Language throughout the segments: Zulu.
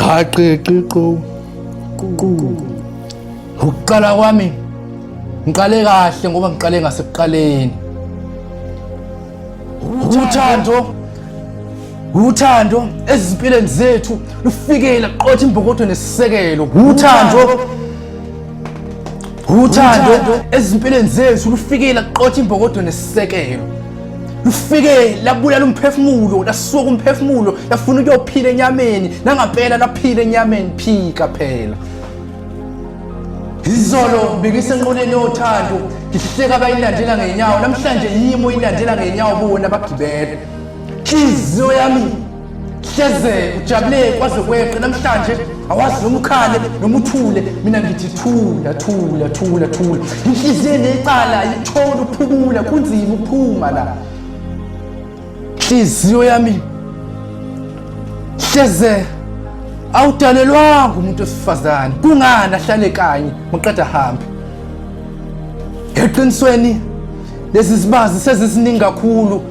qhaqiqiqo ukuqala kwami ngiqale kahle ngoba ngiqale ngasekuqaleni uthando uthando ezimpilweni zethu lufikela qotha imbokodo nesisekelo uthando uthando ezimpilweni zethu lufikela qotha imbokodo nesisekelo lufike labulala umphefumulo lasuka umphefumulo lafuna ukuyophila enyameni nangampela laphila enyameni phika phela izolo bikisenqoleni yothando ngihleka bayilandela ngenyawo namhlanje yimo ilandela ngenyawo bona bagibele inhliziyo yami hleze ujabule kwaze kweqe namhlanje awazi noma ukhale noma uthule mina ngithi thula thula thula thula inhliziyo necala ayitholi ukuphumula kunzima ukuphuma la inhliziyo yami hleze awudalelwanga umuntu wesifazane kungani ahlale kanye muqeda hambe eqinisweni lezi zibazi seziziningi kakhulu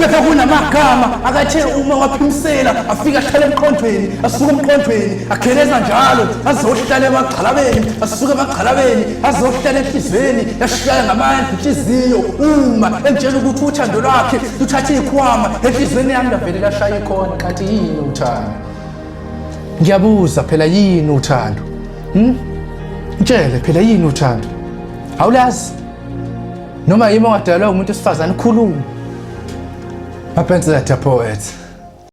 kepha kunamagama akathe uma waphimsela afike ahlale emqondweni asuke emqondweni akheleza njalo azohlala emagxalabeni asuke emagxalabeni azohlala enhliziyweni yashaya ngamandla inhliziyo uma emtshela ukuthi uthando lwakhe luthathe ikhwama enhliziyweni yami lavele lashaya ikhona kanti yini uthando ngiyabuza phela yini uthando hmm? mtshele phela yini uthando awulazi noma yimi ongadalwa umuntu wesifazane khuluma mapensela diapoet